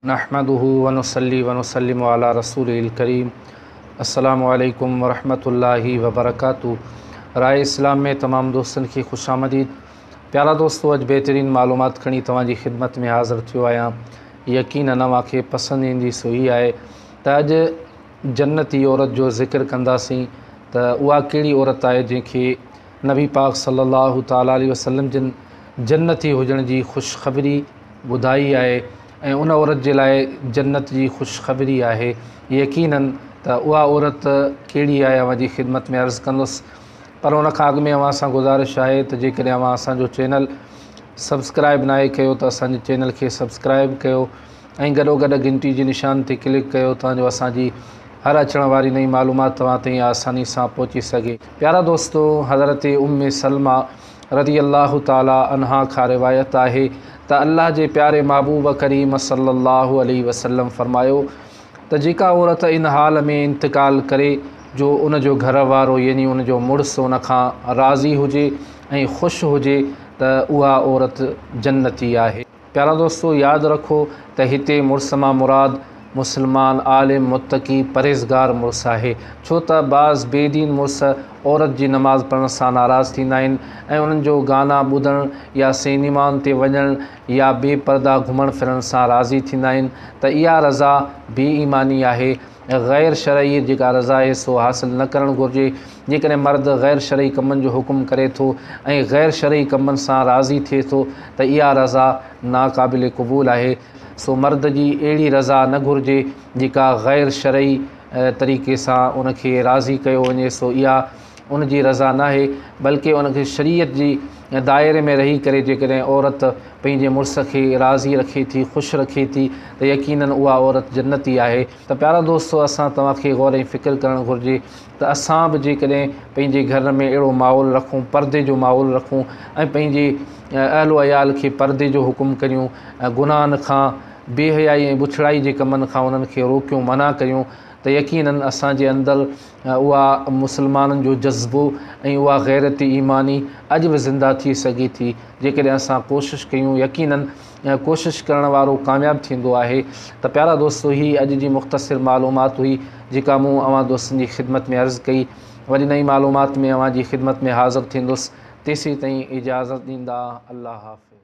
نحمده ونصلي ونسلم علي رسوله الڪريم السلام عليڪم ورحمة الله وبرڪاته راء اسلام ۾ تمام دوستن کي خوش آمديد پيارا دوستو اڄ بهترين معلومات کڻي توهان جي خدمت ۾ حاضر ٿيو آهيان يقينا اوهان کي پسند ايندي سو هي آهي ته اڄ جنتي عورت جو ذڪر ڪنداسين ته اها ڪهڙي عورت آهي جنهن کي نبي پاڪ صلي الله تعالٰي عليه وسلم جن جنتي هجڻ جي خوشخبري ٻڌائي آهي ۽ ان عورت جي لاء جنت جي خوشخبري آهي يقيناً ته اها عورت ڪهڙي آهي اوهان جي خدمت ۾ عرض ڪندس پر ان کان اڳ ۾ اوهان سان گذارش آهي ته جيڪڏهن اوهان اسان جو چينل سبسڪرائب ناهي ڪيو ته اسان جي چينل کي سبسڪرائب ڪيو ۽ گڏو گڏ گهنٽي جي نشان تي ڪلڪ ڪيو تان جو اسان جي هر اچڻ واري نئين معلومات توهان تائين آساني سان پهچي سگهي پيارا دوستو حضرت ام سلمه رضي الله تعالٰي عنها کان روايت آهي ته الله جي پياري محبوب ڪريم صلّي الله عليه وسلّم فرمايو ته جيڪا عورت ان حال ۾ انتقال ڪري جو ان جو گهر وارو يعني ان جو مڙس ان کان راضي هجي ۽ خوش هجي ته اها عورت جنتي آهي. پيارا دوستو ياد رکو ته هتي مڙس مان مراد مسلمان عالم متقي پرهيزگار مڙس آهي ڇو ته بعض بي دين مڙس عورت جي نماز پڙهڻ سان ناراض ٿيندا آهن ۽ انهن جو گانا ٻڌڻ يا سينيمائن تي وڃڻ يا بي پرده گهمڻ ڦرڻ سان راضي ٿيندا آهن ته اها رضا بي ايماني آهي غير شرعي جيڪا رضا آهي سو حاصل نه ڪرڻ گهرجي، جيڪڏهن مرد غير شرعي ڪمن جو حڪم ڪري ٿو ۽ غير شرعي ڪمن سان راضي ٿئي ٿو ته اها رضا ناقابل قبول آهي، سو مرد جي اهڙي رضا نه گهرجي جيڪا غير شرعي طريقي سان ان کي راضي ڪيو وڃي، سو اها. ان جي رضا ناهي بلڪه ان کي شريعت جي دائري ۾ رهي ڪري جيڪڏهن عورت پنهنجي مڙس کي راضي رکي ٿي خوش رکي ٿي ته يقينن اها عورت جنتي آهي ته پيارا دوستو اسان توهان کي غور ۽ فڪر ڪرڻ گهرجي ته اسان به جيڪڏهن پنهنجي گهر ۾ اهڙو ماحول رکون پردي جو ماحول رکون ۽ پنهنجي اهل و عيال کي پردي جو حڪم ڪريون گناهن کان بي حيائي ۽ بڇڙائي جي ڪمن کان انهن کي روڪيون منع ڪريون ته يقينن اسان جي اندر اها مسلمانن جو جذبو ۽ اها غيرتي ايماني اڄ به زنده ٿي سگهي ٿي جيڪڏهن اسان ڪوشش ڪيون يقيناً ڪوشش ڪرڻ وارو ڪامياب ٿيندو آهي ته پيارا دوستو هي اڄ جي مختصر معلومات هئي جيڪا مون اوهان دوستن جي خدمت ۾ عرض ڪئي وري نئين معلومات ۾ اوهان جي خدمت ۾ حاضر ٿيندس تيسين تائين اجازت ڏيندا الله حافظ